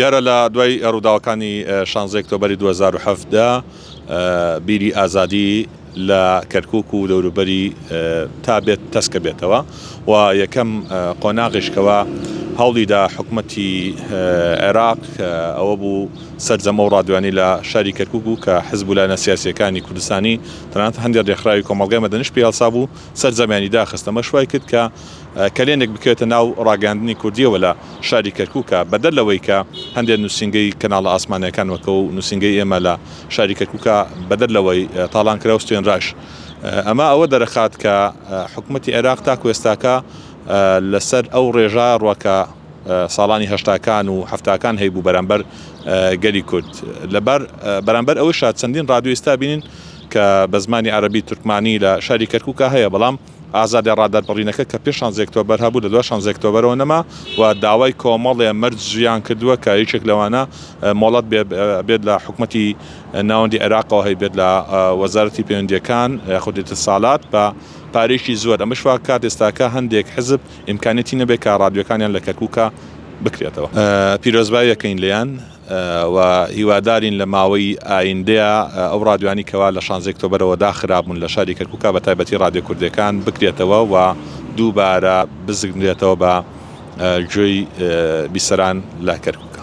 دیارە لە دوای ڕووداوەکانی شانزەی ئۆکتۆبەری دوو هەزار و حەڤدە بیری ئازادی لە کەرکوک و دەوروبەری تا بێت تەسکە بێتەوە و یەکەم قۆناغیشکەوە هەوڵیدا حکوومەتی عێراق ئەوە بوو سەرجەمە و ڕادوانی لە شاری کەرکوک و کە حزب و لایەنە سیاسیەکانی کوردستانی تەنانەت هەندێک ڕێکخراوی کۆمەڵگای مەدەنیش پێ هەڵسا بوو سەرجەمیانی داخستەمە شوای کرد کە کەلێنێک بکەوێتە ناو ڕاگەاندنی کوردیەوە لە شاری کەرکوکە، بەدەر لەوەی کە هەندێ نوسینگەی کەناڵە ئاسمانیەکان وەکوو نوسینگەی ئێمە لە شاری کەرکوکە بەدەر لەوەی تاڵان کراو ستوێنراش ئەمە ئەوە دەرەخات کە حکومەتی عێراق تاکو ئێستاکە لەسەر ئەو ڕێژا ڕە کە ساڵانی هەشتاکان و حەفتاکان هەیبوو بەرامبەر گەلی کورد لەبار بەرامبەر ئەوەشا چەندین ڕادیۆ ئیستا بینین کە بە زمانی عەرەبی تورکمانی لە شاری کەرکوکە هەیە بەڵام ئازادی ڕادەربڕینەکە کە پێش شانزدە ئۆکتۆبەر هەبوو لە دوای شانزدە ئۆکتۆبەرەوە نەما و داوای کۆمەڵێ مەرجیان کردووە کە یەکێک لەوانە مۆڵەت بێت لە حکومەتی ناوەندی عێراقەوە هەی بێت لە وەزارەتی پەیوەندیەکان یاخود ئیتسالات بە پارەیەکی زۆر ئەمەش واکات ئێستاکە هەندێک حزب ئیمکانیەتی نەبێت کە ڕادیۆکانیان لە کەرکوکە بکرێتەوە پیرۆزبایی ئەکەین لێیان. و هیوادارین لە ماوەی ئایندەیا ئەو ڕادیۆیانی کەوا لە شانزەی ئۆکتۆبەرەوە داخرابوون لە شاری کەرکوکا بە تایبەتی ڕادیۆ کوردێکان بکرێتەوە و دووبارە بزگندرێتەوە بە گوێی بیسەران لە کەرکوکا.